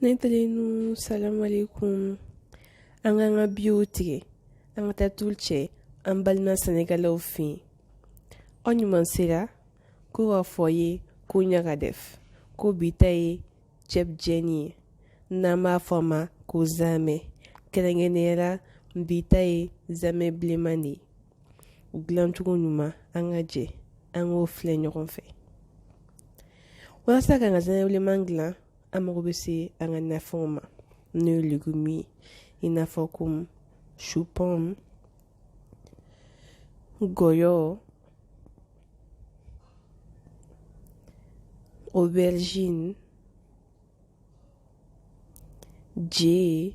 Ne terinu salamu alaikum an k'an ka biye tigɛ an ka taa tile kɛ an balima senegalaw fɛ yen aw ɲuman sera ko b'a fɔ yen ko ɲaga dɛf ko bi ta ye cɛbujɛn ye n'an b'a fɔ a ma ko zamɛ kɛrɛnkɛrɛnnenya la bi ta ye zamɛ bilenman de ye u dilancogo ɲuman an ka jɛ an k'o filɛ ɲɔgɔn fɛ walasa k'an ka zamɛ bilenman dilan an mago bɛ se an ka nafɛnw ma n'o ye legum ye i n'a fɔ komi supɔmu gɔyɔ aubergine je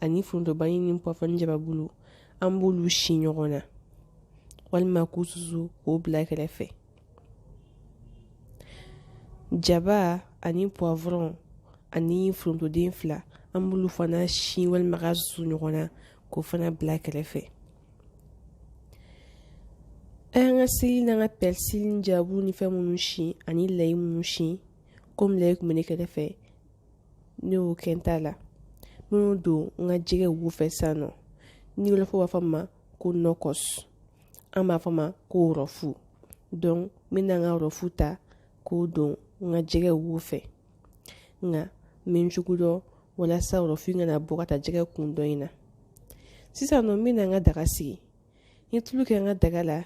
ani forontobanni ni pɔfɔ ni jababulu an b'olu si ɲɔgɔn na walima k'u susu k'o bila kɛrɛfɛ jaba ani pɔfɔrɔn ani forontoden fila an b'olu fana si walima ka susu ɲɔgɔn na k'o fana bila kɛrɛfɛ an ka seleri n'an ka pɛrisili ni jababulu ni fɛn minnu si ani layi minnu si komi layi kun bɛ ne kɛrɛfɛ Ne y'o kɛ n ta la minnu don n ka jɛgɛ wo fɛ sisan nɔ ni wɔlɔfɔ b'a fɔ a ma ko nɔkɔs an b'a fɔ a ma ko rɔfu donc n bɛ na n ka rɔfu ta k'o don n ka jɛgɛ wo fɛ nka min cogo dɔ walasa rɔfu in kana bɔ ka taa jɛgɛ kun dɔ in na sisan nɔ n bɛ na n ka daga sigi n ye tulu kɛ n ka daga la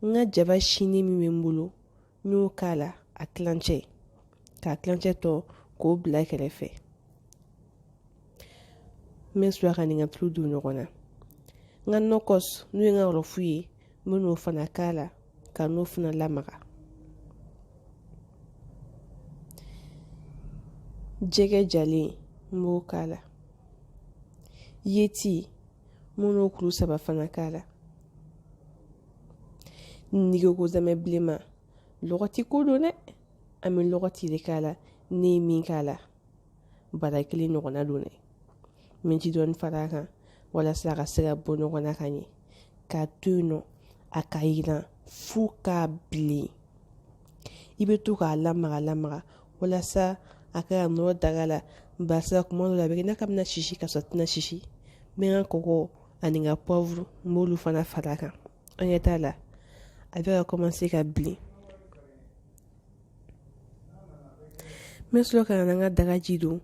n ka jaba sini min bɛ n bolo n y'o k'a la a kilancɛ k'a kilancɛ tɔ k'o bila kɛrɛfɛ n bɛ sɔrɔ k'a ni n ka tulu don ɲɔgɔn na n ka nɔkɔs n'o ye n ka rɔfu ye n bɛ n'o fana k'a la ka n'o fana lamaga jɛgɛ jalen n b'o k'a la yeti n bɛ n'o kuru saba fana k'a la n'i ko ko zamɛ bilenman lɔgɔti ko don dɛ an bɛ lɔgɔti de k'a la ne ye min k'a la bara kelen ɲɔgɔnna don dɛ n bɛ ji dɔɔni fara a kan walasa a ka se ka bɔ ɲɔgɔn na ka ɲɛ k'a to yen nɔ a ka yiran fo k'a bilen i bɛ to k'a lamaga lamaga walasa a kana nɔrɔ daga la barisa kuma dɔ la a bɛ kɛ i ɲa k'a bɛna sisi ka sɔrɔ a tɛna sisi n bɛ n ka kɔkɔ ani n ka poivre n b'olu fana fara a kan an ɲɛ t'a la a bɛ ka kɔmanse ka bilen n bɛ sɔrɔ ka na n ka dagaji don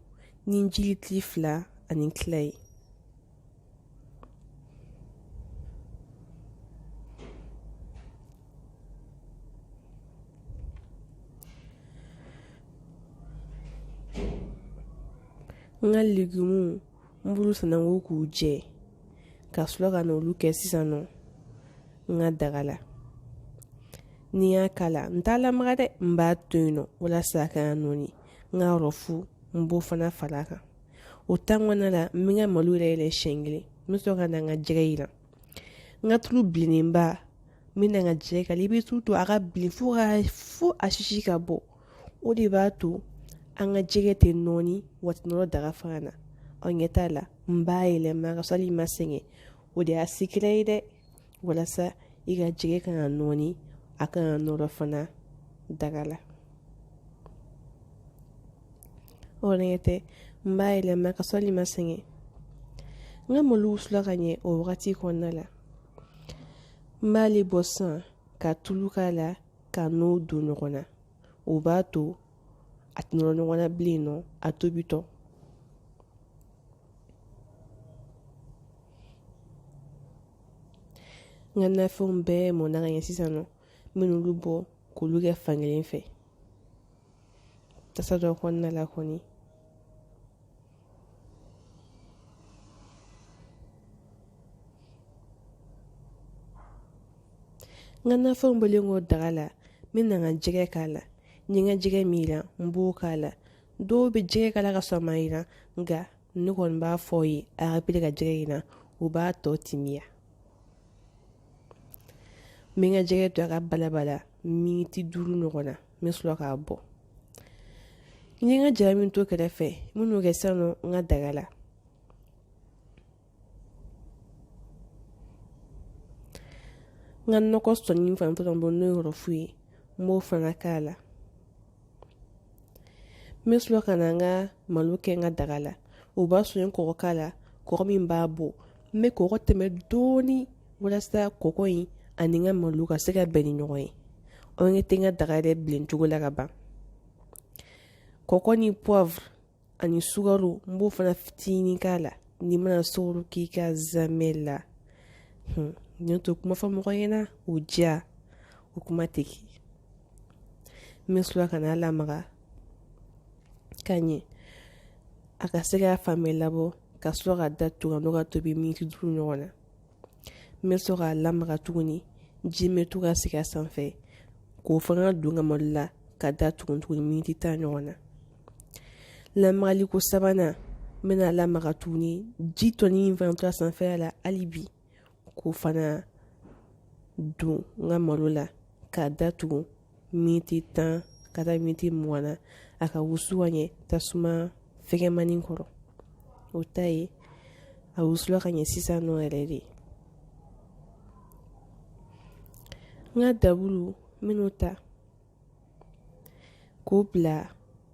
ni ji litiri fila ani tila ye n ka legumu n b'olu sanango k'u jɛ ka sɔrɔ ka n'olu kɛ sisan nɔ n ka daga la ni n y'a k'a la n t'a lamaga dɛ n b'a to yen nɔ walasa a kana nɔɔni n ka rɔfu n b'o fana fara a kan o tan kɔnɔna la n bɛ n ka malo yɛrɛ yɛlɛ siɲɛ kelen n bɛ sɔrɔ ka na n ka jɛgɛ jiran n ka tulu bilennenba n bɛ na n ka jɛgɛ k'a la i bɛ tulu to a ka bilen fo ka fo a sisi ka bɔ o de b'a to an ka jɛgɛ tɛ nɔɔni wa a tɛ nɔrɔ daga fana na aw ɲɛ t'a la n b'a yɛlɛma ka sɔrɔ hali i ma sɛgɛn o de y'a secret ye dɛ walasa i ka jɛgɛ kana nɔɔni a kana nɔrɔ fana daga la o ɲɛ tɛ n b'a yɛlɛma ka sɔrɔ hali i ma sɛgɛn n ka malo wusula ka ɲɛ o wagati kɔnɔna la n b'ale bɔ sisan ka tulu k'a la ka n'o don ɲɔgɔn na o b'a to a tɛ nɔrɔ ɲɔgɔn na bilen nɔ a tobitɔ n ka nafɛnw bɛɛ mɔnna ka ɲɛ sisan nɔ n bɛ n'olu bɔ k'olu kɛ fankelen fɛ tasa dɔ kɔnɔna la kɔni n ka nafɛnw bɔlen kɔ daga la n bɛ na n ka jɛgɛ k'a la n ye n ka jɛgɛ min jiran n b'o k'a la dɔw bɛ jɛgɛ k'a la ka sɔrɔ a ma jiran nka ne kɔni b'a fɔ aw ye a ka pere ka jɛgɛ jiran o b'a tɔ timiya n bɛ n ka jɛgɛ to a ka balabala miniti duuru ɲɔgɔn na n bɛ sɔrɔ k'a bɔ n ye n ka jaba min to kɛrɛfɛ n bɛ n'o kɛ sisan nɔ n ka daga la n ka nɔkɔsi nin fana to ka bɔ n'o ye rɔfu ye n b'o fana k'a la n bɛ sɔrɔ ka na n ka malo kɛ n ka daga la o b'a sɔrɔ n ye kɔgɔ k'a la kɔgɔ min b'a bɔ n bɛ kɔgɔ tɛmɛ dɔɔni walasa kɔgɔ in ani n ka malo ka se ka bɛn ni ɲɔgɔn ye aw ɲɛ tɛ n ka daga yɛrɛ bilen cogo la ka ban kɔgɔ ni poivre ani sukaro n b'o fana fitinin k'a la n'i mana sukaro k'i ka zamɛ la hun n t'o kuma fɔ mɔgɔ ɲɛna o diya o kuma tɛ kɛ n bɛ sɔrɔ ka n'a lamaga ka ɲɛ a ka se ka fan bɛɛ labɔ ka sɔrɔ k'a datugu k'a tobi miniti duuru ɲɔgɔn na n bɛ sɔrɔ k'a lamaga tuguni ji bɛ to ka sigi a sanfɛ k'o fana don n ka malo la k'a datugu tuguni miniti tan ɲɔgɔn na lamagali ko sabanan n bɛna lamaga tuguni ji tɔnin in fana to a sanfɛla la hali bi k'o fana don n ka malo la k'a datugu miniti tan ka taa miniti mugan na a ka wusu ka ɲɛ tasuma fɛgɛnmani kɔrɔ aw t'a ye a wusula ka ɲɛ sisan nɔ yɛrɛ de n ka dabulu n bɛn'o ta k'o bila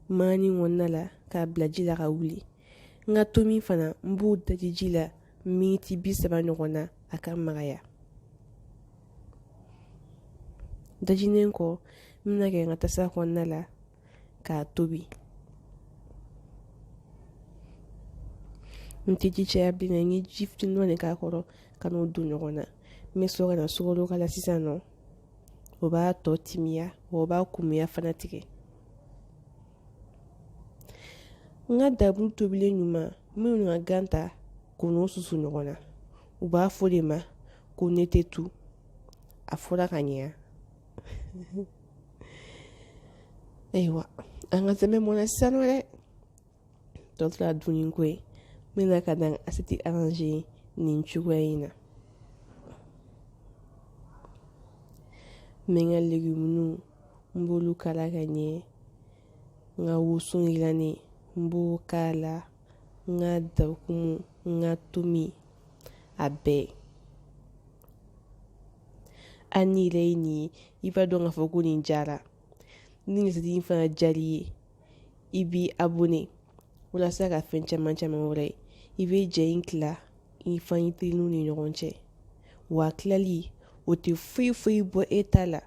manani kɔnɔna la k'a bila ji la ka wuli n ka tomi fana n b'o daji ji la miniti bi saba ɲɔgɔn na a ka magaya dajinen kɔ n bɛn'a kɛ n ka tasa kɔnɔna la k'a tobi n tɛ ji caya bilen na n ye ji fitinin dɔ de k'a kɔrɔ ka n'o don ɲɔgɔn na n bɛ sɔrɔ ka na sukaro k'a la sisan nɔ o b'a tɔ timiya wa o b'a kumuya fana tigɛ n ka dabulu tobilen ɲuman n bɛ n ka gan ta k'o n'o susu ɲɔgɔn na u b'a fɔ de ma ko netetu a fɔra ka ɲɛ ayiwa an ka cɛbu mɔna sisan nɔ dɛ tɔ tora dunni ko ye n bɛna ka na assiette arranger nin cogoya in na n bɛ n ka legumuniw n b'olu kala ka ɲɛ n ka woson yirannen n b'o k'a la n ka dakumu n ka tomi a bɛɛ hali n'i yɛrɛ ye nin ye i b'a dɔn k'a fɔ ko nin diyara ni assiette in fana diyar'i ye i b'i abonné walasa ka fɛn caman caman wɛrɛ ye i bɛ ja in tila i fana teriw ni ɲɔgɔn cɛ wa tilali o tɛ foyi foyi bɔ e ta la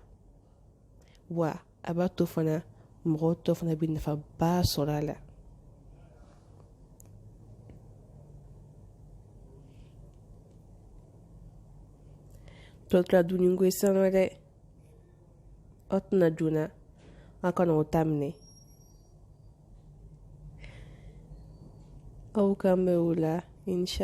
wa a b'a to fana mɔgɔw tɔ fana bɛ nafaba sɔrɔ a la tɔ tora dunni ko ye sisan nɔ dɛ aw tɛna joona a kana o ta minɛ aw k'an bɛn wula insha